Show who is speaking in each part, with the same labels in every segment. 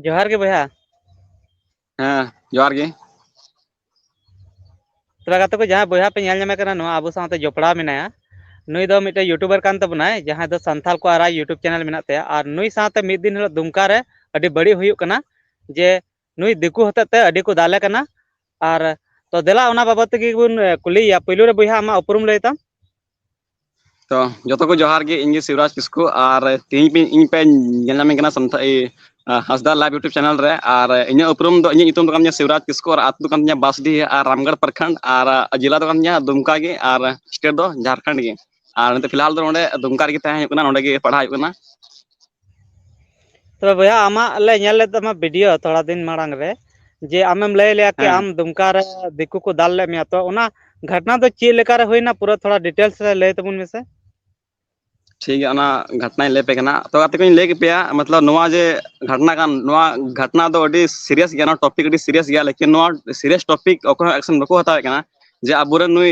Speaker 1: ᱡᱚᱦᱟᱨ ᱜᱮ ᱵᱚᱭᱦᱟ
Speaker 2: ᱦᱮᱸ ᱡᱚᱦᱟᱨ ᱜᱮ
Speaker 1: ᱛᱟᱦᱚᱞᱮ ᱜᱟᱛᱮ ᱠᱚ ᱡᱟᱦᱟᱸᱭ ᱵᱚᱭᱦᱟ ᱯᱮ ᱧᱮᱞ ᱧᱟᱢᱮ ᱠᱟᱱᱟ ᱱᱚᱣᱟ ᱟᱵᱚ ᱥᱟᱶᱛᱮ ᱡᱚᱯᱲᱟᱣ ᱢᱮᱱᱟᱭᱟ ᱱᱩᱭ ᱫᱚ ᱢᱤᱫᱴᱮᱱ ᱤᱭᱩᱴᱩᱵᱟᱨ ᱠᱟᱱ ᱛᱟᱵᱚᱱᱟᱭ ᱡᱟᱦᱟᱸᱭ ᱫᱚ ᱥᱟᱱᱛᱷᱟᱞ ᱠᱚ ᱟᱨᱟᱜ ᱤᱭᱩᱴᱩᱵᱽ ᱪᱮᱱᱮᱞ ᱢᱮᱱᱟᱜ ᱛᱟᱭᱟ ᱟᱨ ᱱᱩᱭ ᱥᱟᱶ ᱢᱤᱫ ᱫᱤᱱ ᱦᱤᱞᱳᱜ ᱫᱩᱢᱠᱟ ᱨᱮ ᱟᱹᱰᱤ ᱵᱟᱹᱲᱤᱡ ᱦᱩᱭᱩᱜ ᱠᱟᱱᱟ ᱡᱮ ᱱᱩᱭ ᱫᱤᱠᱩ ᱦᱚᱛᱮᱡ ᱛᱮ ᱟᱹᱰᱤ ᱠᱚ ᱫᱟᱞᱮ ᱠᱟᱱᱟ ᱟᱨ ᱛᱚ ᱫᱮᱞᱟ ᱚᱱᱟ ᱵᱟᱵᱚᱛ ᱛᱮᱜᱮ ᱵᱚᱱ ᱠᱩᱞᱤᱭᱮᱭᱟ ᱯᱳᱭᱞᱳ ᱨᱮ ᱵᱚᱭᱦᱟ ᱟᱢᱟᱜ ᱩᱯᱨᱩᱢ ᱞᱟᱹᱭ ᱛᱟᱢ
Speaker 2: ᱛᱚ ᱡᱚᱛᱚ ᱠᱚ ᱡᱚᱦᱟᱨ ᱜᱮ ᱤᱧ ᱜᱮ ᱥᱤᱵᱨᱟᱡᱽ ᱠᱤᱥᱠᱩ ᱟᱨ ᱛᱮᱦᱤᱧ ᱤᱧ ᱯᱮ ᱧᱮᱞ ᱧᱟᱢᱤᱧ ᱠᱟᱱᱟ ᱥᱟᱱᱛᱟᱲ ᱤ ᱦᱟᱸᱥᱫᱟ ᱞᱟᱭᱤᱵ ᱤᱭᱩᱴᱩᱵᱽ ᱪᱮᱱᱮᱞ ᱨᱮ ᱟᱨ ᱤᱧᱟᱹᱜ ᱩᱯᱨᱩᱢ ᱫᱚ ᱤᱧᱟᱹᱜ ᱧᱩᱛᱩᱢ ᱫᱚ ᱠᱟᱱ ᱛᱤᱧᱟᱹ ᱥᱤᱣᱨᱟᱡᱽ ᱠᱤᱥᱠᱩ ᱟᱨ ᱟᱛᱳ ᱫᱚ ᱠᱟᱱ ᱛᱤᱧᱟᱹ ᱵᱟᱥᱰᱤᱦᱟ ᱟᱨ ᱨᱟᱢᱜᱚᱲ ᱯᱨᱚᱠᱷᱚᱸᱰ ᱟᱨ ᱡᱮᱞᱟ ᱫᱚ ᱠᱟᱱ ᱛᱤᱧᱟᱹ ᱫᱩᱢᱠᱟ ᱜᱮ ᱟᱨ ᱥᱴᱮᱴ ᱫᱚ ᱡᱷᱟᱲᱠᱷᱚᱸᱰ ᱜᱮ ᱟᱨ ᱱᱤᱛᱚᱜ ᱯᱷᱤᱞᱦᱟᱞ ᱫᱚ ᱱᱚᱸᱰᱮ ᱫᱩᱢᱠᱟ ᱨᱮᱜᱮ ᱛᱟᱦᱮᱸ ᱦᱩᱭᱩᱜ ᱠᱟᱱᱟ ᱱᱚᱸᱰᱮ ᱜᱮ ᱯᱟᱲᱦᱟᱣ ᱦᱩᱭᱩᱜ ᱠᱟᱱᱟ
Speaker 1: ᱛᱚᱵᱮ ᱵᱚᱭᱦᱟ ᱟᱢᱟᱜ ᱞᱮ ᱧᱮᱞ ᱞᱮᱫ ᱛᱟᱢᱟ ᱵᱷᱤᱰᱭᱳ ᱛᱷᱚᱲᱟ ᱫᱤᱱ ᱢᱟᱲᱟᱝ ᱨᱮ ᱡᱮ ᱟᱢᱮᱢ ᱞᱟᱹᱭ ᱞᱮᱭᱟ ᱠᱤ ᱦᱮᱸ ᱟᱢ ᱫᱩᱢᱠᱟ ᱨᱮ ᱫᱤᱠᱩ ᱠᱚ ᱫᱟᱞ ᱞᱮᱫ ᱢᱮᱭᱟ ᱛᱚ ᱚᱱᱟ ᱜᱷᱟᱴᱱᱟ ᱫᱚ ᱪᱮᱫ ᱞᱮᱠᱟ ᱨᱮ ᱦᱩᱭᱱᱟ ᱯᱩᱨᱟᱹ ᱛᱷᱚᱲᱟ ᱰᱤᱴᱮᱞᱥ ᱨᱮ ᱞᱟᱹᱭ ᱛᱟᱵᱚᱱ ᱢᱮᱥᱮ
Speaker 2: ᱴᱷᱤᱠ ᱜᱮᱭᱟ ᱚᱱᱟ ᱜᱷᱟᱴᱱᱟᱧ ᱞᱟᱹᱭ ᱟᱯᱮ ᱠᱟᱱᱟ ᱛᱚ ᱜᱟᱛᱮ ᱠᱚᱧ ᱞᱟᱹᱭ ᱟᱯᱮᱭᱟ ᱢᱚᱛᱞᱚᱵ ᱱᱚᱣᱟ ᱡᱮ ᱜᱷᱟᱴᱱᱟ ᱠᱟᱱ ᱱᱚᱣᱟ ᱜᱷᱟᱴᱱᱟ ᱫᱚ ᱟᱹᱰᱤ ᱥᱤᱨᱤᱭᱟᱥ ᱜᱮᱭᱟ ᱱᱚᱣᱟ ᱴᱚᱯᱤᱠ ᱟᱹᱰᱤ ᱥᱤᱨᱤᱭᱟᱥ ᱜᱮᱭᱟ ᱞᱮᱠᱤᱱ ᱱᱚᱣᱟ ᱥᱤᱨᱤᱭᱟᱥ ᱴᱚᱯᱤᱠ ᱚᱠᱚᱭ ᱦᱚᱸ ᱮᱠᱥᱮᱱ ᱵᱟᱠᱚ ᱦᱟᱛᱟᱣᱮᱫ ᱠᱟᱱᱟ ᱡᱮ ᱟᱵᱚᱨᱮᱱ ᱱᱩᱭ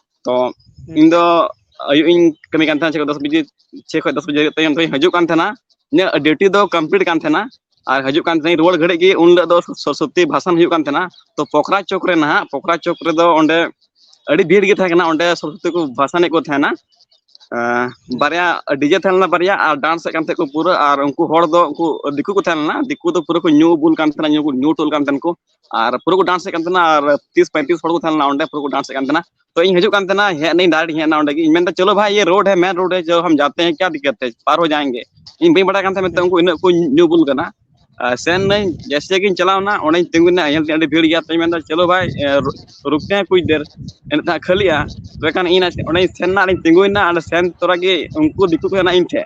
Speaker 2: ᱛᱚ ᱤᱧ ᱫᱚ ᱟᱹᱭᱩᱵ ᱤᱧ ᱠᱟᱹᱢᱤ ᱠᱟᱱ ᱛᱟᱦᱮᱱᱟ ᱪᱷᱚ ᱫᱚᱥ ᱵᱟᱡᱮ ᱪᱷᱮ ᱠᱷᱚᱡ ᱫᱚᱥ ᱵᱟᱡᱮ ᱛᱟᱭᱚᱢ ᱛᱮᱧ ᱦᱤᱡᱩᱜ ᱠᱟᱱ ᱛᱟᱦᱮᱱᱟ ᱤᱧᱟᱹᱜ ᱰᱤᱭᱩᱴᱤ ᱫᱚ ᱠᱚᱢᱯᱞᱤᱴ ᱠᱟᱱ ᱛᱟᱦᱮᱱᱟ ᱟᱨ ᱦᱤᱡᱩᱜ ᱠᱟᱱ ᱛᱟᱦᱮᱱᱟᱹᱧ ᱨᱩᱣᱟᱹᱲ ᱜᱷᱟᱹᱲᱤᱡ ᱜᱮ ᱩᱱ ᱦᱤᱞᱳᱜ ᱫᱚ ᱥᱚᱨᱚᱥᱚᱛᱤ ᱵᱷᱟᱥᱟᱱ ᱦᱩᱭᱩᱜ ᱠᱟᱱ ᱛᱟᱦᱮᱱᱟ ᱛᱚ ᱯᱚᱠᱷᱨᱟ ᱪᱚᱠ ᱨᱮ ᱱᱟᱦᱟᱜ ᱯᱚᱠᱷᱨᱟ ᱪᱚᱠ ᱨᱮᱫᱚ ᱚᱸᱰᱮ ᱟᱹᱰᱤ ᱵᱷᱤᱲ ᱜᱮ ᱛᱟᱦᱮᱸ ᱠᱟᱱᱟ ᱚᱸᱰᱮ ᱥᱚᱨᱚᱥᱚᱛᱤ ᱠᱚ ᱵᱷᱟᱥᱟᱱᱮᱫ ᱠᱚ ᱛᱟᱦᱮᱱᱟ ᱵᱟᱨᱭᱟ ᱰᱤᱡᱮ ᱛᱟᱦᱮᱸ ᱞᱮᱱᱟ ᱵᱟᱨᱭᱟ ᱟᱨ ᱰᱟᱱᱥ ᱮᱫ ᱠᱟᱱ ᱛᱟᱦᱮᱸᱫ ᱠᱚ ᱯᱩᱨᱟᱹ ᱟᱨ ᱩᱱᱠᱩ ᱦᱚᱲ ᱫᱚ ᱩᱱᱠᱩ ᱫᱤᱠᱩ ᱠᱚ ᱛᱟᱦᱮᱸ ᱞᱮᱱᱟ ᱫᱤᱠᱩ ᱫᱚ ᱯᱩᱨᱟᱹ ᱠᱚ ᱧᱩ ᱵᱩᱞ ᱠᱟᱱ ᱛᱟᱦᱮᱱᱟ ᱧᱩ ᱵᱩᱞ ᱧᱩ ᱛᱩᱞ ᱠᱟᱱ ᱛᱟᱦᱮᱱ ᱠᱚ ᱟᱨ ᱯᱩᱨᱟᱹ ᱠᱚ ᱰᱟᱱᱥᱮᱫ ᱠᱟᱱ ᱛᱟᱦᱮᱱᱟ ᱟᱨ ᱛᱤᱥ ᱯᱚᱸᱭᱛᱨᱤᱥ ᱦᱚᱲ ᱠᱚ ᱛᱟᱦᱮᱸ ᱞᱮᱱᱟ ᱚᱸᱰᱮ ᱯᱩᱨᱟᱹ ᱠᱚ ᱰᱟᱱᱥᱮᱫ ᱠᱟᱱ ᱛᱟᱦᱮᱱᱟ ᱛᱚ ᱤᱧ ᱦᱤᱡᱩᱜ ᱠᱟᱱ ᱛᱟᱦᱮᱱᱟ ᱦᱮᱡ ᱱᱟᱹᱧ ᱰᱟᱭᱨᱮᱠᱴ ᱦᱮᱡ ᱱᱟ ᱚᱸᱰᱮ ᱜᱮ ᱤᱧ ᱢᱮᱱᱫᱟ ᱪᱚᱞᱚ ᱵᱷᱟᱭ ᱤᱭᱟᱹ ᱨᱳᱰ ᱦᱮ ᱢᱮᱱ ᱨᱳᱰ ᱦᱮ ᱡᱚ ᱦᱟᱢ ᱡᱟᱛᱮ ᱦᱮ ᱠᱭᱟ ᱫᱤᱠᱠᱟᱛ ᱦᱮ ᱯᱟᱨ ᱦᱚ ᱡᱟᱭᱮᱝᱜᱮ ᱤᱧ ᱵᱟᱹᱧ ᱵᱟᱲᱟᱭ ᱠᱟᱱ ᱛᱟᱦᱮᱸ ᱢᱮᱱᱛᱮ ᱩᱱᱠᱩ ᱤᱱᱟᱹᱜ ᱠᱚ ᱧᱩ ᱵᱩᱞ ᱠᱟᱱᱟ ᱥᱮᱱ ᱱᱟᱹᱧ ᱡᱮᱭᱥᱮ ᱜᱤᱧ ᱪᱟᱞᱟᱣᱱᱟ ᱚᱸᱰᱮᱧ ᱛᱤᱸᱜᱩᱭᱱᱟ ᱧᱮᱞ ᱫᱤᱧ ᱟᱹᱰᱤ ᱵᱷᱤᱲ ᱜᱮᱭᱟ ᱛᱚᱧ ᱢᱮᱱᱫᱟ ᱪᱚᱞᱚ ᱵᱷᱟᱭ ᱨᱩᱠᱛᱮ ᱦᱮ ᱠᱩᱪ ᱫᱮᱨ ᱮᱱᱮᱜ ᱫᱚ ᱠᱷᱟᱹᱞᱤᱜᱼᱟ ᱛᱚᱵᱮ ᱠᱷᱟᱱ ᱤᱧ ᱚᱸᱰᱮᱧ ᱥᱮᱱ ᱱᱟ ᱟᱨᱤᱧ ᱛᱤᱸᱜᱩᱭᱱᱟ ᱚᱸᱰᱮ ᱥᱮᱱ ᱛᱚᱨᱟᱜᱮ ᱩᱱᱠᱩ ᱫᱤᱠᱩ ᱠᱚ ᱦᱮᱡᱱᱟ ᱤᱧ ᱴᱷᱮᱱ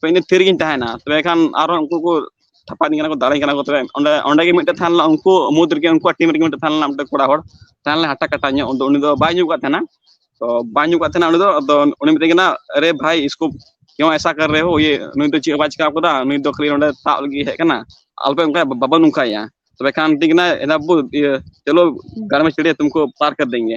Speaker 2: ᱛᱚ ᱤᱧ ᱫᱚ ᱛᱷᱤᱨ ᱨᱮᱜᱤᱧ ᱛᱟᱦᱮᱱᱟ ᱛᱚᱵᱮ ᱠᱷᱟᱱ ᱟᱨᱚ ᱩᱱᱠᱩ ᱠᱚ ᱛᱷᱟᱯᱟᱣᱤᱧ ᱠᱟᱱᱟ ᱠᱚ ᱫᱟᱞᱤᱧ ᱠᱟᱱᱟ ᱠᱚ ᱛᱚᱵᱮ ᱚᱸᱰᱮ ᱚᱸᱰᱮ ᱜᱮ ᱢᱤᱫᱴᱮᱱ ᱛᱟᱦᱮᱸ ᱞᱮᱱᱟ ᱩᱱᱠᱩ ᱢᱩᱫᱽ ᱨᱮᱜᱮ ᱩᱱᱠᱩᱣᱟᱜ ᱴᱤᱢ ᱨᱮᱜᱮ ᱢᱤᱫᱴᱮᱱ ᱛᱟᱦᱮᱸ ᱞᱮᱱᱟ ᱢᱤᱫᱴᱮᱱ ᱠᱚᱲᱟ ᱦᱚᱲ ᱛᱟᱦᱮᱸ ᱞᱮᱱᱟ ᱦᱟᱴᱟᱜ ᱠᱟᱴᱟ ᱧᱚᱜ ᱟᱫᱚ ᱩᱱᱤ ᱫᱚ ᱵᱟᱭ ᱧᱩ ᱠᱟᱜ ᱛᱟᱦᱮᱱᱟ ᱛᱚ ᱵᱟᱭ ᱧᱩ ᱠᱟᱜ ᱛᱟᱦᱮᱱᱟ ᱩᱱᱤ ᱫᱚ ᱟᱫᱚ ᱩᱱᱤ ᱢᱮᱛᱟᱹᱧ ᱠᱟᱱᱟ ᱟᱨᱮ ᱵᱷᱟᱭ ᱤᱥᱠᱩ ᱠᱮᱣᱟ ᱮᱥᱟ ᱠᱟᱨ ᱨᱮ ᱦᱳ ᱤᱭᱟᱹ ᱱᱩᱭ ᱫᱚ ᱪᱮᱫ ᱦᱚᱸ ᱵᱟᱭ ᱪᱤᱠᱟᱹ ᱠᱟᱫᱟ ᱱᱩᱭ ᱫᱚ ᱠᱷᱟᱹᱞᱤ ᱱᱚᱸᱰᱮ ᱛᱟᱵ ᱞᱟᱹᱜᱤᱫ ᱦᱮᱡ ᱠᱟᱱᱟ ᱟᱞᱚᱯᱮ ᱚᱱᱠᱟᱭᱟ ᱵᱟᱵᱚᱱ ᱱᱚᱝᱠᱟᱭᱮᱭᱟ ᱛᱚᱵᱮ ᱠᱷᱟᱱ ᱢᱤᱛᱟᱹᱧ ᱠᱟᱱᱟᱭ ᱮᱫᱟ ᱵᱟᱹᱵᱩ ᱤᱭᱟᱹ ᱪᱚᱞᱚ ᱜᱟᱲ ᱢᱮ ᱪᱷᱳᱲᱮ ᱛᱩᱢᱠᱳ ᱯᱟᱨ ᱠᱟᱨ ᱫᱮᱝᱜᱮ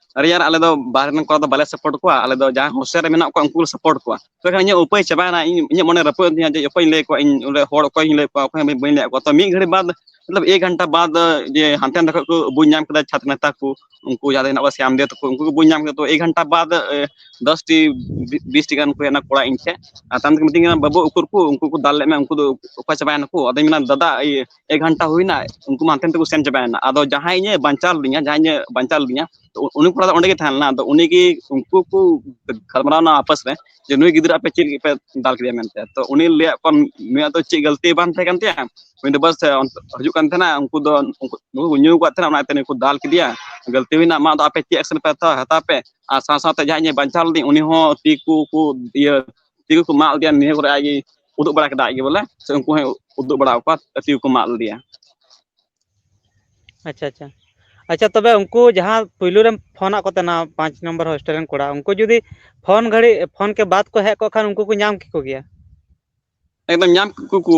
Speaker 2: ᱟᱨᱮ ᱭᱟᱨ ᱟᱞᱮ ᱫᱚ ᱵᱟᱦᱨᱮ ᱨᱮᱱ ᱠᱚᱲᱟ ᱫᱚ ᱵᱟᱞᱮ ᱥᱟᱯᱳᱨᱴ ᱠᱚᱣᱟ ᱟᱞᱮ ᱫᱚ ᱡᱟᱦᱟᱸᱭ ᱦᱳᱥᱴᱮᱞ ᱨᱮ ᱢᱮᱱᱟᱜ ᱠᱚᱣᱟ ᱩᱱᱠᱩ ᱞᱮ ᱥᱟᱯᱳᱨᱴ ᱠᱚᱣᱟ ᱛᱚᱵᱮᱠᱷᱟᱱ ᱤᱧᱟᱹᱜ ᱩᱯᱟᱹᱭ ᱪᱟᱵᱟᱭᱮᱱᱟ ᱤᱧ ᱤᱧᱟᱹᱜ ᱢᱚᱱᱮ ᱨᱟᱹᱯᱩᱫ ᱮᱱ ᱛᱤᱧᱟᱹ ᱡᱮ ᱚᱠᱚᱭᱤᱧ ᱞᱟᱹᱭ ᱟᱠᱚᱣᱟ ᱤᱧ ᱚᱸᱰᱮ ᱦᱚᱲ ᱚᱠᱚᱭᱤᱧ ᱞᱟᱹᱭ ᱟᱠᱚᱣᱟ ᱚᱠᱚᱭ ᱦᱚᱸ ᱵᱟᱹᱧ ᱞᱟᱹᱭ ᱟᱠᱚᱣᱟ ᱛᱚ ᱢᱤᱫ ᱜᱷᱟᱹᱲᱤᱡ ᱵᱟᱫᱽ ᱢᱚᱛᱞᱚᱵ ᱮᱠ ᱜᱷᱚᱱᱴᱟ ᱵᱟᱫᱽ ᱡᱮ ᱦᱟᱱᱛᱮ ᱱᱟᱛᱮ ᱠᱷᱚᱱ ᱠᱚ ᱵᱩᱡᱽ ᱧᱟᱢ ᱠᱮᱫᱟ ᱪᱷᱟᱛᱨᱚ ᱱᱮᱛᱟ ᱠᱚ ᱩᱱᱠᱩ ᱡᱟᱦᱟᱸ ᱫᱚ ᱦᱮᱱᱟᱜ ᱠᱚᱣᱟ ᱥᱟᱢᱫᱮᱣ ᱛᱟᱠᱚ ᱩᱱᱠᱩ ᱠᱚ ᱵᱩᱡᱽ ᱧᱟᱢ ᱠᱮᱫᱟ ᱛᱚ ᱮᱠ ᱜᱷᱚᱱᱴᱟ ᱵᱟᱫᱽ ᱫᱚᱥᱴᱤ ᱵᱤᱥᱴᱤ ᱜᱟᱱ ᱠᱚ ᱦᱮᱡ ᱮᱱᱟ ᱠᱚᱲᱟ ᱤᱧ ᱴᱷᱮᱱ ᱟᱨ ᱛᱟᱭᱚᱢ ᱛᱮᱠᱚ ᱢᱤᱛᱟᱹᱧ ᱠᱟᱱᱟ ᱵᱟᱹᱵᱩ ᱩᱠᱩᱨ ᱠᱚ ᱩᱱᱠᱩ ᱠᱚ ᱫᱟᱞ ᱞᱮᱫ ᱢᱮᱭᱟ ᱩᱱᱠᱩ ᱫᱚ ᱚᱠᱟ ᱪᱟᱵᱟᱭᱮᱱᱟ ᱠᱚ ᱟᱫᱚᱧ ᱢᱮᱱᱟ ᱫᱟᱫᱟ ᱤᱭᱟᱹ ᱮᱠ ᱜᱷᱚᱱᱴᱟ ᱦᱩᱭᱱᱟ ᱩᱱᱠᱩ ᱢᱟ ᱦᱟᱱᱛᱮ ᱱᱟᱛᱮ ᱠᱚ ᱥᱮᱱ ᱪᱟᱵᱟᱭᱮᱱᱟ ᱟᱫᱚ ᱡᱟᱦᱟᱸᱭ ᱤᱧᱮ ᱵᱟᱧᱪᱟᱣ ᱞᱤᱫᱤᱧᱟ ᱡᱟᱦᱟᱸᱭ ᱤᱧᱮ ᱵᱟᱧᱪᱟᱣ ᱞᱤᱫᱤᱧᱟ ᱩᱱᱤ ᱠᱚᱲᱟ ᱫᱚ ᱚᱸᱰᱮ ᱜᱮ ᱛᱟᱦᱮᱸ ᱞᱮᱱᱟ ᱟᱫᱚ ᱩᱱᱤᱜᱮ ᱩᱱᱠᱩ ᱠᱚ ᱜᱟᱞᱢᱟᱨᱟᱣᱱᱟ ᱟᱯᱟᱥ ᱨᱮ ᱡᱮ ᱱᱩᱭ ᱜᱤᱫᱽᱨᱟᱹ ᱟᱯᱮ ᱪᱮᱫ ᱞᱟᱹᱜᱤᱫ ᱯᱮ ᱫᱟᱞ ᱠᱮᱫᱮᱭᱟ ᱢᱮᱱᱛᱮ ᱛᱚ ᱩᱱᱤ ᱞᱟᱹᱭᱟᱫ ᱠᱚᱣᱟ ᱱᱩᱭᱟᱜ ᱫᱚ ᱪᱮᱫ ᱜᱟᱹᱞᱛᱤ ᱵᱟᱝ ᱛᱟᱦᱮᱸ ᱠᱟᱱ ᱛᱟᱭᱟ ᱩᱱᱤ ᱫᱚ ᱵᱟᱥ ᱦᱤᱡᱩᱜ ᱠᱟᱱ ᱛᱟᱦᱮᱱᱟ ᱩᱱᱠᱩ ᱫᱚ ᱱᱩᱠᱩ ᱠᱚ ᱧᱩ ᱟᱠᱟᱫ ᱛᱟᱦᱮᱱᱟ ᱚᱱᱟᱛᱮ ᱱᱩᱭ ᱠᱚ ᱫᱟᱞ ᱠᱮᱫᱮᱭᱟ ᱜᱟᱹᱞᱛᱤ ᱦᱩᱭᱱᱟ ᱟᱢᱟᱜ ᱫᱚ ᱟᱯᱮ ᱪᱮᱫ ᱮᱠᱥᱮᱱ ᱯᱮ ᱦᱟᱛᱟᱣᱟ ᱦᱟᱛᱟᱣ ᱯᱮ ᱟᱨ ᱥᱟᱶ ᱥᱟᱶᱛᱮ ᱡᱟᱦᱟᱸᱭ ᱤᱧᱮ ᱵᱟᱧᱪᱟᱣ ᱞᱤᱫᱤᱧ ᱩᱱᱤ ᱦᱚᱸ ᱛᱤ ᱠᱚ ᱠᱚ ᱤᱭᱟᱹ ᱛᱤ ᱠᱚ ᱢᱟᱜ ᱞᱮᱫᱮᱭᱟ ᱱᱤᱭᱟᱹ ᱠᱚᱨᱮ ᱟᱡ ᱜᱮ ᱩᱫᱩᱜ ᱵᱟᱲᱟ ᱠᱮᱫᱟ ᱟᱡ ᱜᱮ ᱵᱚᱞᱮ ᱥᱮ ᱩᱱᱠᱩ ᱦᱚᱸᱭ ᱩᱫᱩᱜ ᱵᱟᱲᱟ ᱠᱚᱣᱟ ᱛᱤ ᱠᱚ ᱢᱟᱜ ᱞᱮᱫᱮᱭᱟ ᱟᱪᱪᱷᱟ
Speaker 1: ᱟᱪᱪᱷᱟ ᱟᱪᱪᱷᱟ ᱛᱚᱵᱮ ᱩᱱᱠᱩ ᱡᱟᱦᱟᱸ ᱯᱩᱭᱞᱩ ᱨᱮᱢ ᱯᱷᱳᱱ ᱟᱫ ᱠᱚ ᱛᱟᱦᱮᱱᱟ ᱯᱟᱸᱪ ᱱᱚᱢᱵᱚᱨ ᱦᱳᱥᱴᱮᱞ ᱨᱮᱱ ᱠᱚᱲᱟ ᱩᱱᱠᱩ ᱡᱩᱫᱤ ᱯᱷᱳᱱ ᱜᱷᱟᱹᱲᱤᱡ ᱯᱷᱳᱱ ᱠᱮ ᱵᱟᱫ ᱠᱚ ᱦᱮᱡ ᱠᱚᱜ ᱠᱷᱟᱱ ᱩᱱᱠᱩ ᱠᱚ ᱧᱟᱢ ᱠᱮᱠᱚ ᱜᱮᱭᱟ ᱮᱠᱫᱚᱢ
Speaker 2: ᱧᱟᱢ ᱠᱮᱠᱚ ᱠᱚ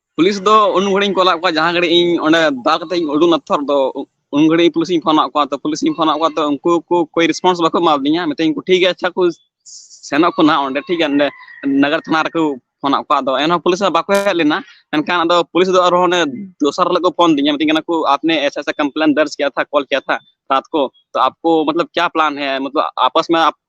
Speaker 2: ᱯᱩᱞᱤᱥ ᱫᱚ ᱩᱱ ᱜᱷᱟᱹᱲᱤᱡ ᱠᱚᱞᱟᱫ ᱠᱚᱣᱟ ᱡᱟᱦᱟᱸ ᱜᱷᱟᱹᱲᱤᱡ ᱤᱧ ᱚᱸᱰᱮ ᱫᱟᱞ ᱠᱟᱛᱮ ᱤᱧ ᱩᱰᱩᱠ ᱱᱟᱛᱚ ᱫᱚ ᱩᱱ ᱜᱷᱟᱹᱲᱤᱡ ᱯᱩᱞᱤᱥᱤᱧ ᱯᱷᱳᱱᱟᱫ ᱠᱚᱣᱟ ᱛᱚ ᱯᱩᱞᱤᱥᱤᱧ ᱯᱷᱳᱱᱟᱫ ᱠᱚᱣᱟ ᱛᱚ ᱩᱱᱠᱩ ᱠᱚ ᱠᱳᱭ ᱨᱮᱥᱯᱚᱱᱥ ᱵᱟᱠᱚ ᱮᱢᱟᱫᱤᱧᱟ ᱢᱮᱛᱟᱹᱧ ᱠᱚ ᱴᱷᱤᱠ ᱜᱮᱭᱟ ᱟᱪᱪᱷᱟ ᱠᱚ ᱥᱮᱱᱚᱜ ᱠᱚ ᱱᱟᱦᱟᱜ ᱚᱸᱰᱮ ᱴᱷᱤᱠ ᱜᱮᱭᱟ ᱚᱸᱰᱮ ᱱᱟᱜᱟᱨ ᱛᱷᱟᱱᱟ ᱨᱮᱠᱚ ᱯᱷᱳᱱᱟᱫ ᱠᱚᱣᱟ ᱟᱫᱚ ᱮᱱᱦᱚᱸ ᱯᱩᱞᱤᱥ ᱦᱚᱸ ᱵᱟᱠᱚ ᱦᱮᱡ ᱞᱮᱱᱟ ᱢᱮᱱᱠᱷᱟᱱ ᱟᱫᱚ ᱯᱩᱞᱤᱥ ᱫᱚ ᱟᱨᱦᱚᱸ ᱚᱱᱮ ᱫᱚᱥᱟᱨ ᱦᱤᱞᱳᱜ ᱠᱚ ᱯᱷᱳᱱ ᱫᱤᱧᱟ ᱢᱤᱛᱟᱹᱧ ᱠᱟᱱᱟ ᱠᱚ ᱟᱯᱱᱮ ᱮᱥᱟ ᱮᱥᱟ ᱠᱚᱢᱯᱞᱮᱱ ᱫᱚᱨᱡᱽ ᱠᱤᱭᱟ ᱛᱷᱟ ᱠᱚᱞ ᱠᱤᱭᱟ ᱛᱷᱟ ᱨᱟᱛ ᱠᱚ ᱛᱚ ᱟᱯᱠᱳ ᱢᱚᱛᱞᱚᱵ ᱠᱭᱟ ᱯᱞᱟᱱ ᱦᱮ ᱢᱚᱛᱞᱚᱵ ᱟᱯᱚᱥ ᱢᱮ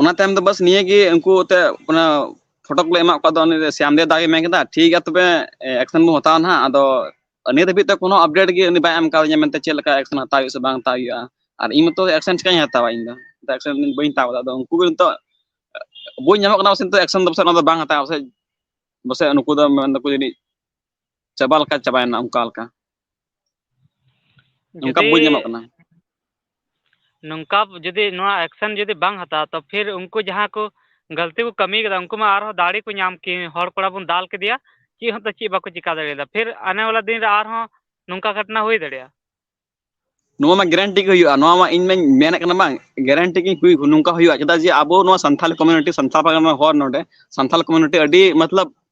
Speaker 2: ᱚᱱᱟ ᱛᱟᱭᱚᱢ ᱫᱚ ᱵᱟᱥ ᱱᱤᱭᱟᱹ ᱜᱮ ᱩᱱᱠᱩ ᱛᱮ ᱚᱱᱟ ᱯᱷᱚᱴᱚ ᱠᱚᱞᱮ ᱮᱢᱟᱜ ᱠᱚᱣᱟ ᱟᱫᱚ ᱩᱱᱤ ᱥᱮᱢ ᱫᱮᱣ ᱫᱟ ᱜᱮ ᱢᱮᱱ ᱠᱮᱫᱟ ᱴᱷᱤᱠ ᱜᱮᱭᱟ ᱛᱚᱵᱮ ᱮᱠᱥᱮᱱ ᱵᱚᱱ ᱦᱟᱛᱟᱣᱟ ᱱᱟᱦᱟᱜ ᱟᱫᱚ ᱱᱤᱛ ᱫᱷᱟᱹᱵᱤᱡ ᱛᱮ ᱠᱳᱱᱳ ᱟᱯᱰᱮᱴ ᱜᱮ ᱩᱱᱤ ᱵᱟᱭ ᱮᱢ ᱠᱟᱣᱫᱤᱧᱟ ᱢᱮᱱᱛᱮ ᱪᱮᱫ ᱞᱮᱠᱟ ᱮᱠᱥᱮᱱ ᱦᱟᱛᱟᱣ ᱦᱩᱭᱩᱜᱼᱟ ᱥᱮ ᱵᱟᱝ ᱦᱟᱛᱟᱣ ᱦᱩᱭᱩᱜᱼᱟ ᱟᱨ ᱤᱧ ᱢᱟᱛᱚ ᱮᱠᱥᱮᱱ ᱪᱮᱠᱟᱹᱧ ᱦᱟᱛᱟᱣᱟ ᱤᱧ ᱫᱚ ᱮᱠᱥᱮᱱ ᱵᱟᱹᱧ ᱦᱟᱛᱟᱣ ᱠᱟᱫᱟ ᱟᱫᱚ ᱩᱱᱠᱩ ᱜᱮ ᱱᱤᱛᱚᱜ ᱵᱟᱹᱧ ᱧᱟᱢᱚᱜ ᱠᱟᱱᱟ ᱯᱟᱥᱮ ᱱᱤᱛᱚᱜ ᱮᱠᱥᱮᱱ ᱫᱚ ᱯᱟᱥᱮ ᱚᱱᱟ ᱫᱚ ᱵᱟᱝ ᱦᱟᱛᱟᱣᱟ ᱯᱟᱥᱮᱡ ᱯᱟᱥᱮᱡ ᱱᱩᱠᱩ ᱫᱚ ᱢᱮᱱ ᱫᱟᱠᱚ ᱡᱟᱹᱱᱤᱡ ᱪᱟᱵᱟ ᱞᱮᱠᱟ ᱪᱟᱵᱟᱭᱮᱱᱟ ᱚᱱᱠᱟ ᱞᱮᱠᱟ ᱱᱚᱝᱠᱟ ᱡᱩᱫᱤ ᱵᱩᱡᱽ ᱧᱟᱢᱚᱜ ᱠᱟᱱᱟ
Speaker 1: ᱱᱚᱝᱠᱟ ᱡᱩᱫᱤ ᱱᱚᱣᱟ ᱮᱠᱥᱮᱱ ᱡᱩᱫᱤ ᱵᱟᱝ ᱦᱟᱛᱟᱣᱟ ᱛᱚ ᱯᱷᱤᱨ ᱩᱱᱠᱩ ᱡᱟᱦᱟᱸ ᱠᱚ ᱜᱟᱹᱞᱛᱤ ᱠᱚ ᱠᱟᱹᱢᱤ ᱠᱟᱫᱟ ᱩᱱᱠᱩ ᱢᱟ ᱟᱨᱦᱚᱸ ᱫᱟᱲᱮ ᱠᱚ ᱧᱟᱢ ᱠᱮ ᱦᱚᱲ ᱠᱚᱲᱟ ᱵᱚᱱ ᱫᱟᱞ ᱠᱮᱫᱮᱭᱟ ᱪᱮᱫ ᱦᱚᱸᱛᱚ ᱪᱮᱫ ᱵᱟᱠᱚ ᱪᱤᱠᱟᱹ ᱫᱟᱲᱮᱭᱟᱫᱟ ᱯᱷᱤᱨ ᱟᱱᱮ ᱵᱟᱞᱟ ᱫᱤᱱ ᱨᱮ ᱟᱨᱦᱚᱸ ᱱᱚᱝᱠᱟ ᱜᱷᱚᱴᱚᱱᱟ ᱦᱩᱭ ᱫᱟᱲᱮᱭᱟᱜᱼᱟ
Speaker 2: ᱱᱚᱣᱟ ᱢᱟ ᱜᱮᱨᱮᱱᱴᱤ ᱜᱮ ᱦᱩᱭᱩᱜᱼᱟ ᱱᱚᱣᱟ ᱢᱟ ᱤᱧ ᱢᱟᱧ ᱢᱮᱱᱮᱫ ᱠᱟᱱᱟ ᱵᱟᱝ ᱜᱮᱨᱮᱱᱴᱤ ᱜᱮ ᱦᱩᱭ ᱱᱚᱝᱠᱟ ᱦᱩᱭᱩᱜᱼᱟ ᱪᱮᱫᱟᱜ ᱡᱮ ᱟᱵᱚ ᱱᱚᱣᱟ ᱥᱟᱱᱛᱷᱟᱞ ᱠᱚᱢᱩᱱᱤᱴᱤ ᱥᱟᱱᱛᱟᱲ ᱯᱟᱨᱜᱟᱱᱟ ᱦᱚᱲ ᱱᱚᱰᱮ ᱥᱟᱱᱛᱟᱞ ᱠᱚᱢᱩᱱᱤᱴᱤ ᱟᱹᱰᱤ ᱢᱚᱛᱞᱚᱵ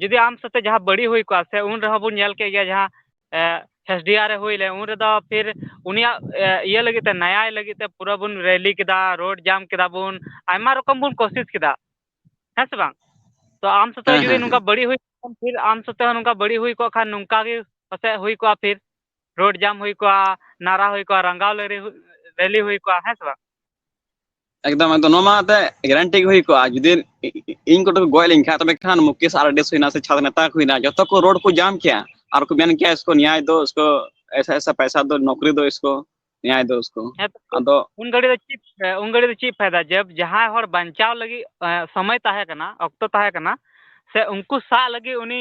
Speaker 1: ᱡᱩᱫᱤ ᱟᱢ ᱥᱟᱛᱮ ᱡᱟᱦᱟᱸ ᱵᱟᱹᱲᱤᱡ ᱦᱩᱭ ᱠᱚᱜᱼᱟ ᱥᱮ ᱩᱱ ᱨᱮᱦᱚᱸ ᱵᱚᱱ ᱧᱮᱞ ᱠᱮᱫ ᱜᱮᱭᱟ ᱡᱟᱦᱟᱸ ᱮᱥ ᱰᱤ ᱟᱨ ᱮ ᱦᱩᱭ ᱞᱮᱱ ᱩᱱ ᱨᱮᱫᱚ ᱯᱷᱤᱨ ᱩᱱᱤᱭᱟᱜ ᱤᱭᱟᱹ ᱞᱟᱹᱜᱤᱫ ᱛᱮ ᱱᱮᱭᱟᱭ ᱞᱟᱹᱜᱤᱫ ᱛᱮ ᱯᱩᱨᱟᱹ ᱵᱚᱱ ᱨᱮᱞᱤ ᱠᱮᱫᱟ ᱨᱳᱰ ᱡᱟᱢ ᱠᱮᱫᱟ ᱵᱚᱱ ᱟᱭᱢᱟ ᱨᱚᱠᱚᱢ ᱵᱚᱱ ᱠᱳᱥᱤᱥ ᱠᱮᱫᱟ ᱦᱮᱸ ᱥᱮ ᱵᱟᱝ ᱛᱚ ᱟᱢ ᱥᱟᱛᱮ ᱦᱮᱸ ᱡᱩᱫᱤ ᱦᱮᱸ ᱱᱚᱝᱠᱟ ᱦᱮᱸ ᱵᱟᱹᱲᱤᱡ ᱦᱩᱭ ᱠᱚᱜ ᱠᱷᱟᱱ ᱯᱷᱤᱨ ᱟᱢ ᱥᱟᱛᱮ ᱦᱚᱸ ᱱᱚᱝᱠᱟ ᱵᱟᱹᱲᱤᱡ ᱦᱩᱭ ᱠᱚᱜ ᱠᱷᱟᱱ ᱱᱚᱝᱠᱟ ᱜᱮ ᱯᱟᱥᱮᱡ ᱦᱩᱭ ᱠᱚᱜᱼᱟ ᱯᱷᱤᱨ ᱨᱳᱰ ᱡᱟᱢ ᱦᱩᱭ ᱠᱚᱜᱼᱟ ᱱᱟᱨᱟ ᱦᱩᱭ ᱠᱚᱜᱼᱟ ᱨᱟᱸᱜᱟᱣ ᱞᱟᱹᱨᱤ ᱨᱮᱞᱤ ᱦᱩᱭ ᱠᱚᱜᱼᱟ ᱦᱮᱸ ᱥᱮ ᱵᱟᱝ
Speaker 2: ᱮᱠᱫᱚᱢ ᱮᱠᱫᱚᱢ ᱱᱚᱣᱟ ᱢᱟ ᱮᱱᱛᱮᱫ ᱜᱮᱨᱮᱱᱴᱤ ᱜᱮ ᱦᱩᱭ ᱠᱚᱜᱼᱟ ᱡᱩᱫᱤ ᱤᱧ ᱠᱚᱴᱷᱮᱱ ᱠᱚ ᱜᱚᱡ ᱞᱮᱱ ᱠᱷᱟᱱᱡ ᱛᱚᱵᱮ ᱠᱷᱟᱱ ᱢᱩᱠᱮᱥ ᱟᱨ ᱰᱤ ᱦᱩᱭᱱᱟ ᱥᱮ ᱪᱷᱟᱛ ᱱᱮᱛᱟ ᱠᱚ ᱦᱩᱭᱱᱟ ᱡᱚᱛᱚ ᱠᱚ ᱨᱳᱰ ᱠᱚ ᱡᱟᱢ ᱠᱮᱭᱟ ᱟᱨ ᱠᱚ ᱢᱮᱱ ᱠᱮᱭᱟ ᱤᱥᱠᱩ ᱱᱮᱭᱟᱭ ᱫᱚ ᱤᱥᱠᱩ ᱮᱭᱥᱟ ᱮᱭᱥᱟ ᱯᱚᱭᱥᱟ ᱫᱚ ᱱᱚᱠᱨᱤ ᱫᱚ ᱤᱥᱠᱩ ᱱᱮᱭᱟᱭ ᱫᱚ ᱩᱥᱠᱩ ᱦᱮᱸ ᱛᱚ ᱟᱫᱚ ᱩᱱ ᱜᱷᱟᱹᱲᱤᱡ ᱫᱚ ᱪᱮᱫ
Speaker 1: ᱩᱱ ᱜᱷᱟᱹᱲᱤᱡ ᱫᱚ ᱪᱮᱫ ᱯᱷᱟᱭᱫᱟ ᱡᱮ ᱡᱟᱦᱟᱸᱭ ᱦᱚᱲ ᱵᱟᱧᱪᱟᱣ ᱞᱟᱹᱜᱤᱫ ᱥᱚᱢᱚᱭ ᱛᱟᱦᱮᱸ ᱠᱟᱱᱟ ᱚᱠᱛᱚ ᱛᱟᱦᱮᱸ ᱠᱟᱱᱟ ᱥᱮ ᱩᱱᱠᱩ ᱥᱟᱵ ᱞᱟᱹᱜᱤᱫ ᱩᱱᱤ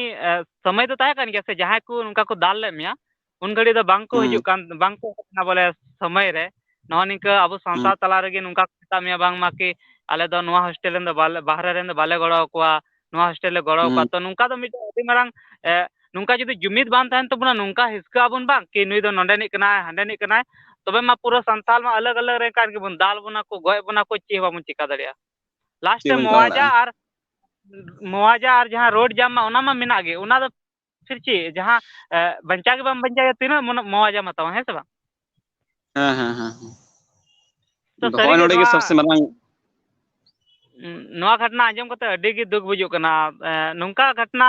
Speaker 1: ᱥᱚᱢᱚᱭ ᱫᱚ ᱛᱟᱦᱮᱸ ᱠᱟᱱ ᱜᱮᱭᱟ ᱥᱮ ᱡᱟᱦᱟᱸᱭ ᱠᱚ ᱱᱚᱝᱠᱟ ᱠᱚ ᱫᱟᱞ ᱞᱮᱫ ᱢᱮᱭᱟ ᱩᱱ ᱜᱷᱟᱹᱲᱤᱡ ᱫᱚ ᱵᱟᱝᱠᱚ ᱦᱩᱸ ᱦᱤᱡᱩᱜ ᱠᱟᱱ ᱵᱟᱝᱠᱚ ᱦᱮᱡ ᱠᱟᱱᱟ ᱵᱚᱞᱮ ᱥᱚᱢᱚᱭ ᱨᱮ ᱱᱚᱜᱼᱚ ᱱᱤᱝᱠᱟᱹ ᱟᱵᱚ ᱦᱩᱸ ᱥᱟᱱᱛᱟᱲ ᱛᱟᱞᱟ ᱨᱮᱜᱮ ᱱᱚᱝᱠᱟ ᱠᱚ ᱢᱮᱛᱟᱜ ᱢᱮᱭᱟ ᱵᱟᱝᱢᱟ ᱠᱤ ᱟᱞᱮ ᱫᱚ ᱱᱚᱣᱟ ᱦᱳᱥᱴᱮᱞ ᱨᱮᱱ ᱫᱚ ᱵᱟᱞᱮ ᱵᱟᱦᱨᱮ ᱨᱮᱱ ᱫᱚ ᱵᱟᱞᱮ ᱜᱚᱲᱚ ᱟᱠᱚᱣᱟ ᱱᱚᱣᱟ ᱦᱳᱥᱴᱮᱞ ᱞᱮ ᱜᱚᱲᱚ ᱟᱠᱚᱣᱟ ᱦᱩᱸ ᱛᱚ ᱱᱚᱝᱠᱟ ᱫᱚ ᱢᱤᱫᱴᱮᱱ ᱟᱹᱰᱤ ᱢᱟᱨᱟᱝ ᱮᱸᱜ ᱱᱚᱝᱠᱟ ᱡᱩᱫᱤ ᱡᱩᱢᱤᱫ ᱵᱟᱝ ᱛᱟᱦᱮᱱ ᱛᱟᱵᱚᱱᱟ ᱱᱚᱝᱠᱟ ᱦᱤᱥᱠᱟᱹᱜ ᱟᱵᱚᱱ ᱵᱟᱝ ᱠᱤ ᱱᱩᱭ ᱫᱚ ᱱᱚᱰᱮᱱᱤᱡ ᱠᱟᱱᱟᱭ ᱦᱟᱸᱰᱮᱱᱤᱡ ᱠᱟᱱᱟᱭ ᱛᱚᱵᱮ ᱢᱟ ᱯᱩᱨᱟᱹ ᱥᱟᱱᱛᱟᱞ ᱢᱟ ᱟᱞᱟᱜᱽ ᱟᱞᱟᱜᱽ ᱨᱮ ᱠᱟᱱ ᱜᱮᱵᱚᱱ ᱫᱟᱞ ᱵᱚᱱᱟ ᱠᱚ ᱜᱚᱡ ᱵᱚᱱᱟ ᱠᱚ ᱪᱮᱫ ᱦᱚᱸ ᱵᱟᱵᱚᱱ ᱪᱤᱠᱟᱹ ᱫᱟᱲᱮᱭᱟᱜᱼᱟ ᱞᱟᱥᱴ ᱪᱮᱫ ᱨᱮ ᱵᱚᱱ ᱪᱤᱠᱟ ᱢᱚᱣᱟᱡᱟ ᱫᱟᱲᱮᱭᱟᱜᱼᱟ ᱟᱨ ᱢᱚᱣᱟᱡᱟ ᱟᱨ ᱡᱟᱦᱟᱸ ᱨᱳᱰ ᱡᱟᱢ ᱢᱟ ᱚᱱᱟ ᱢᱟ ᱢᱮᱱᱟᱜ ᱜᱮ ᱚᱱᱟ ᱫᱚ ᱯᱷᱤᱨ ᱪᱮᱫ ᱡᱟᱦᱟᱸ ᱵᱟᱧᱪᱟᱣ ᱜᱮ ᱵᱟᱢ ᱵᱟᱧᱪᱟᱣᱭᱟ ᱛᱤᱱᱟᱹᱜ ᱢᱚᱱ ᱢᱚᱣᱟᱡᱟᱢ ᱦᱟᱛᱟᱣᱟ ᱦᱮᱸ ᱥᱮ ᱵᱟᱝ? ᱦᱮᱸ ᱦᱮᱸ
Speaker 2: ᱦᱮᱸ
Speaker 1: ᱛᱚ ᱟᱫᱚ ᱦᱚᱸᱜᱼᱚᱭ ᱥᱟᱹᱨᱤᱜᱮ ᱱᱚᱰᱮ ᱜᱮ ᱱᱚᱣᱟ
Speaker 2: ᱥᱚᱵᱥᱮ ᱢᱟᱨᱟᱝ ᱱᱚᱣᱟ
Speaker 1: ᱜᱷᱚᱴᱚᱱᱟ ᱟᱸᱡᱚᱢ ᱠᱟᱛᱮ ᱟᱹᱰᱤ ᱜᱮ ᱫᱩᱠ ᱵᱩᱡᱩᱜ ᱠᱟᱱᱟ ᱱᱚᱝᱠᱟ ᱜᱷᱚᱴᱚᱱᱟ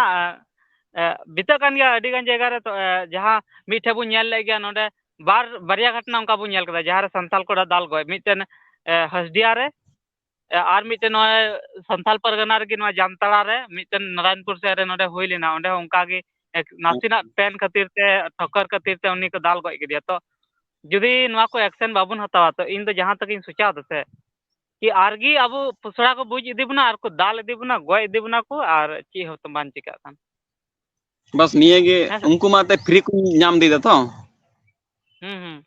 Speaker 1: ᱵᱤᱛᱟᱹᱜ ᱠᱟᱱ ᱜᱮᱭᱟ ᱟᱹᱰᱤ ᱜᱟᱱ ᱡᱟᱭᱜᱟ ᱨᱮ ᱛᱚ ᱡᱟᱦᱟᱸ ᱢᱤᱫᱴᱷᱮᱱ ᱵᱚᱱ ᱧᱮᱞ ᱞᱮᱫ ᱜᱮᱭᱟ ᱱᱚᱰᱮ ᱵᱟᱨ ᱵᱟᱨᱭᱟ ᱜᱷᱚᱴᱚᱱᱟ ᱚᱱᱠᱟ ᱵᱚᱱ ᱧᱮᱞ ᱠᱮᱫᱟ ᱡᱟᱦᱟᱸᱨᱮ ᱥᱟᱱᱛᱟᱞ ᱠᱚᱲᱟ ᱫᱟᱞ ᱜᱚᱡ ᱢᱤᱫᱴᱮᱱ ᱦᱟᱥᱰᱤᱦᱟ ᱨᱮ ᱟᱨ ᱢᱤᱫᱴᱮᱱ ᱱᱚᱜᱼᱚᱭ ᱥᱟᱱᱛᱟᱲ ᱯᱟᱨᱜᱟᱱᱟ ᱨᱮᱜᱮ ᱱᱚᱣᱟ ᱡᱟᱢᱛᱟᱲᱟ ᱨᱮ ᱢᱤᱫᱴᱮᱱ ᱱᱟᱨᱟᱭᱚᱱᱯᱩᱨ ᱥᱮᱫ ᱨᱮ ᱱᱚᱰᱮ ᱦᱩᱭ ᱞᱮᱱᱟ ᱚᱸᱰᱮ ᱦᱚᱸ ᱚᱱᱠᱟ ᱜᱮ ᱱᱟᱥᱮᱱᱟᱜ ᱯᱮᱱ ᱠᱷᱟᱹᱛᱤᱨ ᱛᱮ ᱴᱷᱚᱠᱠᱚᱨ ᱠᱷᱟᱹᱛᱤᱨ ᱛᱮ ᱩᱱᱤ ᱠᱚ ᱫᱟᱞ ᱜᱚᱡ ᱠᱮᱫᱮᱭᱟ ᱛᱚ ᱡᱩᱫᱤ ᱱᱚᱣᱟ ᱠᱚ ᱮᱠᱥᱮᱱ ᱵᱟᱵᱚᱱ ᱦᱟᱛᱟᱣᱟ ᱛᱚ ᱤᱧᱫᱚ ᱡᱟᱦᱟᱸ ᱛᱮᱜᱮ ᱤᱧ ᱥᱚᱪᱟᱣ ᱫᱟᱥᱮ ᱠᱤ ᱟᱨ ᱜᱮ ᱟᱵᱚ ᱯᱚᱥᱲᱟ ᱠᱚ ᱵᱩᱡᱽ ᱤᱫᱤ ᱵᱚᱱᱟ ᱟᱨ ᱠᱚ ᱫᱟᱞ ᱤᱫᱤ ᱵᱚᱱᱟ ᱜᱚᱡ ᱤᱫᱤ ᱵᱚᱱᱟ ᱠᱚ ᱟᱨ ᱪᱮᱫ ᱦᱚᱸᱛᱚ ᱵᱟᱝ ᱪᱤᱠᱟᱹᱜ ᱠᱟᱱ ᱵᱟᱥ
Speaker 2: ᱱᱤᱭᱟᱹ ᱜᱮ ᱦᱮᱸ ᱥᱮ ᱩᱱᱠᱩ ᱢᱟ ᱮᱱᱛᱮᱫ ᱯᱷᱨᱤ ᱠᱚ ᱧᱟᱢ ᱤᱫᱤᱭᱮᱫᱟ ᱛᱚ ᱦᱩᱸ ᱦᱩᱸ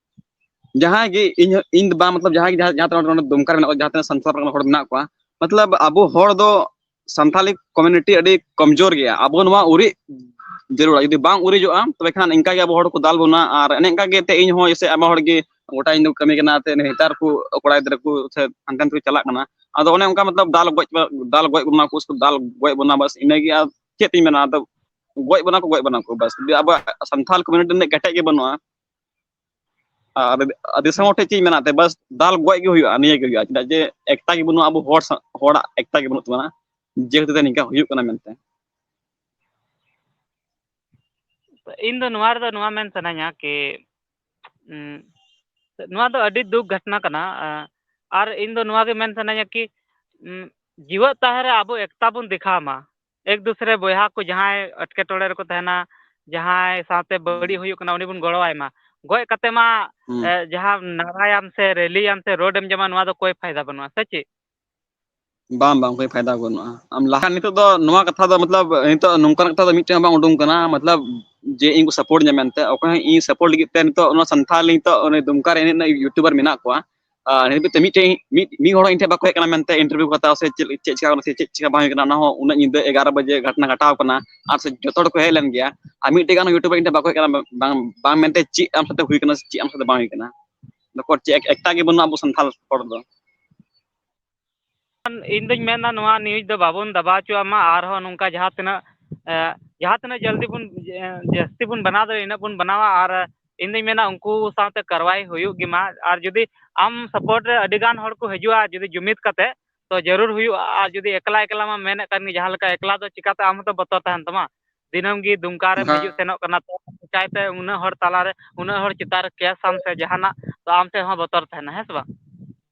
Speaker 2: ᱡᱟᱦᱟᱸᱭ ᱜᱮ ᱤᱧ ᱤᱧ ᱫᱚ ᱵᱟᱝ ᱢᱚᱛᱞᱚᱵ ᱡᱟᱦᱟᱸᱭ ᱜᱮ ᱡᱟᱦᱟᱸ ᱛᱤᱱᱟᱹᱜ ᱱᱚᱰᱮ ᱫᱩᱢᱠᱟ ᱨᱮ ᱢᱮᱱᱟᱜ ᱠᱚᱣᱟ ᱡᱟᱦᱟᱸ ᱛᱤᱱᱟᱹᱜ ᱥᱟᱱᱛᱟᱲ ᱨᱮᱱ ᱦᱚᱲ ᱢᱮᱱᱟᱜ ᱠᱚᱣᱟ ᱢᱚᱛᱞᱚᱵ ᱟᱵᱚ ᱦᱚᱲ ᱫᱚ ᱥᱟᱱᱛᱷᱟᱞᱤ ᱠᱚᱢᱩᱱᱤᱴᱤ ᱟᱹᱰᱤ ᱠᱚᱢᱡᱳᱨ ᱜᱮᱭᱟ ᱟᱵᱚ ᱱᱚᱣᱟ ᱩᱨᱤᱡ ᱡᱟᱹᱨᱩᱲᱟ ᱡᱩᱫᱤ ᱵᱟᱝ ᱩᱨᱤᱡᱚᱜᱼᱟ ᱛᱚᱵᱮ ᱠᱷᱟᱱ ᱤᱱᱠᱟ ᱜᱮ ᱟᱵᱚ ᱦᱚᱲ ᱠᱚ ᱫᱟᱞ ᱵᱚᱱᱟ ᱟᱨ ᱮᱱᱮ ᱮᱝᱠᱟ ᱜᱮ ᱛᱮ ᱤᱧ ᱦᱚᱸ ᱡᱮᱭᱥᱮ ᱟᱭᱢᱟ ᱦᱚᱲ ᱜᱮ ᱜᱚᱴᱟ ᱤᱧ ᱫᱚ ᱠᱟᱹᱢᱤ ᱠᱟᱱᱟ ᱛᱮ ᱱᱮᱛᱟᱨ ᱠᱚ ᱠᱚᱲᱟ ᱜᱤᱫᱽᱨᱟᱹ ᱠᱚ ᱥᱮ ᱦᱟᱱᱛᱮ ᱱᱟᱛᱮ ᱠᱚ ᱪᱟᱞᱟᱜ ᱠᱟᱱᱟ ᱟᱫᱚ ᱚᱱᱮ ᱚᱱᱠᱟ ᱢᱚᱛᱞᱚᱵ ᱫᱟᱞ ᱜᱚᱡ ᱫᱟᱞ ᱜᱚᱡ ᱵᱚᱱᱟ ᱠᱚ ᱥᱮᱠᱚ ᱫᱟᱞ ᱜᱚᱡ ᱵᱚᱱᱟ ᱵᱟᱥ ᱤᱱᱟᱹ ᱜᱮ ᱟᱨ ᱪᱮᱫ ᱤᱧ ᱢᱮᱱᱟ ᱟᱫᱚ ᱜᱚᱡ ᱵᱚᱱᱟ ᱠᱚ ᱜᱚᱡ ᱵᱚᱱᱟ ᱠᱚ ᱵᱟᱥ ᱡᱩᱫᱤ ᱟᱵᱚᱣᱟᱜ ᱥᱟᱱᱛᱷᱟᱞ ᱠᱚᱢᱩᱱᱤᱴᱤ ᱨᱤᱱᱟᱜ ᱠᱮᱴᱮᱡ ᱜᱮ ᱵᱟᱹᱱᱩᱜᱼᱟ ᱟᱨ ᱫᱤᱥᱚᱢ ᱦᱚᱲ ᱴᱷᱮᱱ ᱪᱮᱫ ᱢᱮᱱᱟᱜ ᱛᱟᱭᱟ ᱵᱟᱥ ᱫᱟᱞ ᱜᱚᱡ ᱜᱮ ᱦᱩᱭᱩᱜᱼᱟ ᱱᱤᱭᱟᱹ ᱜᱮ ᱦᱩᱭᱩᱜᱼᱟ ᱪᱮᱫᱟᱜ ᱡᱮ ᱮᱠᱛᱟ ᱜᱮ ᱵᱟᱹᱱᱩᱜᱼᱟ ᱟᱵᱚ ᱦᱚᱲ ᱦᱚᱲᱟᱜ ᱮᱠᱛᱟ ᱜᱮ ᱵᱟᱹᱱᱩᱜ ᱛᱟᱵᱚᱱᱟ ᱡᱮ ᱠᱷᱟᱹᱛᱤᱨ ᱛᱮ ᱱᱤᱝᱠᱟ ᱦᱩᱭᱩᱜ ᱠᱟᱱᱟ ᱢᱮᱱᱛᱮ ᱤᱧ
Speaker 1: ᱫᱚ ᱱᱚᱣᱟ ᱨᱮᱫᱚ ᱱᱚᱣᱟ ᱢᱮᱱ ᱥᱟᱱᱟᱧᱟ ᱠᱤ ᱱᱚᱣᱟ ᱫᱚ ᱟᱹᱰᱤ ᱫᱩᱠ ᱜᱷᱚᱴᱱᱟ ᱠᱟᱱᱟ ᱟᱨ ᱤᱧ ᱫᱚ ᱱᱚᱣᱟ ᱜᱮ ᱢᱮᱱ ᱥᱟᱱᱟᱧᱟ ᱠᱤ ᱡᱤᱣᱮᱫ ᱛᱟᱦᱮᱸ ᱨᱮ ᱟᱵᱚ ᱮᱠᱛᱟ ᱵᱚᱱ ᱫᱮᱠᱷᱟᱣ ᱢᱟ ᱮᱠ ᱫᱩᱥᱨᱮ ᱵᱚᱭᱦᱟ ᱠᱚ ᱡᱟᱦᱟᱸᱭ ᱮᱴᱠᱮᱴᱚᱬᱮ ᱨᱮᱠᱚ ᱛᱟᱦᱮᱱᱟ ᱡᱟᱦᱟᱸᱭ ᱥᱟᱶᱛᱮ ᱵᱟᱹᱲᱤᱡ ᱦᱩᱭᱩᱜ ᱠᱟᱱᱟ ᱩᱱᱤ ᱵᱚᱱ ᱜᱚᱲᱚ ᱟᱭ ᱢᱟ ᱜᱚᱡ ᱠᱟᱛᱮ ᱢᱟ ᱦᱩᱸ ᱡᱟᱦᱟᱸ ᱱᱟᱨᱟᱭᱟᱢ ᱥᱮ ᱨᱮᱞᱤᱭᱟᱢ ᱥᱮ ᱨᱳᱰ ᱮᱢ ᱡᱚᱢᱟ ᱱᱚᱣᱟ ᱫᱚ ᱠᱳᱭ ᱯᱷᱟᱭᱫᱟ ᱵᱟᱹᱱᱩᱜᱼᱟ ᱥᱮ ᱪᱮᱫ
Speaker 2: ᱵᱟᱝ ᱵᱟᱝ ᱠᱳᱭ ᱯᱷᱟᱭᱫᱟ ᱵᱟᱹᱱᱩᱜᱼᱟ ᱟᱢ ᱞᱟᱦᱟ ᱱᱤᱛᱚᱜ ᱫᱚ ᱱᱚᱣᱟ ᱠᱟᱛᱷᱟ ᱫᱚ ᱢᱚᱛᱞᱚᱵ ᱱᱤᱛᱚᱜ ᱱᱚᱝᱠᱟᱱᱟᱜ ᱠᱟᱛᱷᱟ ᱫᱚ ᱢᱤᱫ ᱪᱮᱫ ᱦᱚᱸ ᱵᱟᱝ ᱩᱰᱩᱝ ᱠᱟᱱᱟ ᱢᱚᱛᱞᱚᱵ ᱡᱮ ᱤᱧ ᱠᱚ ᱥᱟᱯᱳᱨᱴ ᱤᱧᱟ ᱢᱮᱱᱛᱮ ᱚᱠᱚᱭ ᱦᱚᱸ ᱤᱧ ᱥᱟᱯᱳᱨᱴ ᱞᱟᱹᱜᱤᱫ ᱛᱮ ᱱᱤᱛᱚᱜ ᱚᱱᱟ ᱥᱟᱱᱛᱷᱟᱞᱤ ᱱᱤᱛᱚᱜ ᱫᱩᱢᱠᱟ ᱨᱮ ᱮᱱᱮᱡ ᱨᱮᱱᱟᱜ ᱤᱭᱩᱴᱩᱵᱟᱨ ᱢᱮᱱᱟᱜ ᱠᱚᱣᱟ ᱱᱤᱛ ᱛᱮ ᱢᱤᱫᱴᱮᱱ ᱢᱤᱫ ᱢᱤᱫ ᱦᱚᱲ ᱤᱧ ᱴᱷᱮᱱ ᱵᱟᱠᱚ ᱦᱮᱡ ᱠᱟᱱᱟ ᱢᱮᱱᱛᱮ ᱤᱱᱴᱟᱨᱵᱷᱤᱭᱩ ᱠᱚ ᱦᱟᱛᱟᱣᱟ ᱥᱮ ᱪᱮᱫ ᱪᱮᱫ ᱪᱮᱠᱟ ᱠᱟᱱᱟ ᱥᱮ ᱪᱮᱫ ᱪᱮᱠᱟ ᱵᱟᱝ ᱦᱩᱭ ᱠᱟᱱᱟ ᱚᱱᱟ ᱦᱚᱸ ᱩᱱᱟᱹᱜ ᱧᱤᱫᱟᱹ ᱮᱜᱟᱨᱚ ᱵᱟᱡᱮ ᱜᱷᱟᱴᱱᱟ ᱜᱷᱟᱴᱟᱣ ᱠᱟᱱᱟ ᱟᱨ ᱥᱮ ᱡᱚᱛᱚ ᱦᱚᱲ ᱠᱚ ᱦᱮᱡ ᱞᱮᱱ ᱜᱮᱭᱟ ᱟᱨ ᱢᱤᱫᱴᱮᱡ ᱜᱟᱱ ᱤᱭᱩᱴᱩᱵᱟᱨ ᱤᱧ ᱴᱷᱮᱱ ᱵᱟᱠᱚ ᱦᱮᱡ ᱠᱟᱱᱟ ᱵᱟᱝ ᱵᱟᱝ ᱢᱮᱱᱛᱮ ᱪᱮᱫ ᱟᱢ ᱥᱟᱛᱮ ᱦᱩᱭ ᱠᱟᱱᱟ ᱪᱮᱫ ᱟᱢ ᱥᱟᱛᱮ ᱵᱟᱝ ᱦᱩᱭ ᱠᱟᱱᱟ ᱱᱩᱠᱩ ᱪᱮᱫ ᱮᱠᱴᱟ ᱜᱮ ᱵᱟᱹᱱᱩᱜᱼᱟ ᱟᱵᱚ ᱥᱟᱱᱛᱟᱲ ᱦᱚᱲ ᱫᱚ
Speaker 1: ᱤᱧ ᱫᱩᱧ ᱢᱮᱱᱟ ᱱᱚᱣᱟ ᱱᱤᱭᱩᱡᱽ ᱫᱚ ᱵᱟᱵᱚᱱ ᱫᱟᱵᱟᱣ ᱦᱚᱪᱚᱣᱟᱜ ᱢᱟ ᱟᱨᱦᱚᱸ ᱱᱚᱝᱠᱟ ᱡᱟᱦᱟᱸ ᱛᱤᱱᱟᱹᱜ ᱡᱟᱦᱟᱸ ᱛᱤᱱᱟᱹᱜ ᱡᱚᱞᱫᱤ ᱵᱚᱱ ᱡᱟᱹᱥᱛᱤ ᱵᱚᱱ ᱵᱮᱱᱟᱣ ᱫᱟᱲᱮᱭᱟᱜᱼᱟ ᱤᱱᱟᱹᱜ ᱵᱚᱱ ᱵᱮᱱᱟᱣᱟ ᱟᱨ ᱤᱧ ᱫᱩᱧ ᱢᱮᱱᱟ ᱩᱱᱠᱩ ᱥᱟᱶᱛᱮ ᱠᱟᱨᱵᱟᱭ ᱦᱩᱭᱩᱜ ᱜᱮᱢᱟ ᱟᱨ ᱡᱩᱫᱤ ᱟᱢ ᱥᱟᱯᱳᱨᱴ ᱨᱮ ᱟᱹᱰᱤ ᱜᱟᱱ ᱦᱚᱲ ᱠᱚ ᱦᱤᱡᱩᱜᱼᱟ ᱡᱩᱫᱤ ᱡᱩᱢᱤᱫ ᱠᱟᱛᱮᱫ ᱛᱳ ᱡᱟᱹᱨᱩᱲ ᱦᱩᱭᱩᱜᱼᱟ ᱟᱨ ᱡᱩᱫᱤ ᱮᱠᱞᱟ ᱮᱠᱞᱟ ᱢᱟᱢ ᱢᱮᱱᱮᱫ ᱠᱟᱱ ᱜᱮ ᱡᱟᱦᱟᱸ ᱞᱮᱠᱟ ᱮᱠᱞᱟ ᱫᱚ ᱪᱤᱠᱟᱹᱛᱮ ᱟᱢ ᱦᱚᱸᱛᱚ ᱵᱚᱛᱚᱨ ᱛᱟᱦᱮᱱ ᱛᱟᱢᱟ ᱫᱤᱱᱟᱹᱢ ᱜᱮ ᱫᱩᱢᱠᱟ ᱨᱮᱢ ᱦᱤᱡᱩᱜ ᱥᱮᱱᱚᱜ ᱠᱟᱱᱟ ᱛᱳ ᱪᱤᱠᱟᱹᱛᱮ ᱩᱱᱟᱹᱜ ᱦᱚᱲ ᱛᱟᱞᱟᱨᱮ ᱩᱱᱟᱹᱜ ᱦᱚᱲ ᱪᱮᱛᱟᱱ ᱨᱮ ᱠᱮᱥ ᱟᱢ ᱥᱮ ᱡᱟᱦᱟᱱᱟᱜ ᱛᱳ ᱟᱢ ᱴᱷᱮᱱ ᱦᱚᱸ ᱵᱚᱛᱚᱨ ᱛᱟᱦᱮᱱᱟ ᱦᱮᱸ ᱥᱮ ᱵᱟᱝ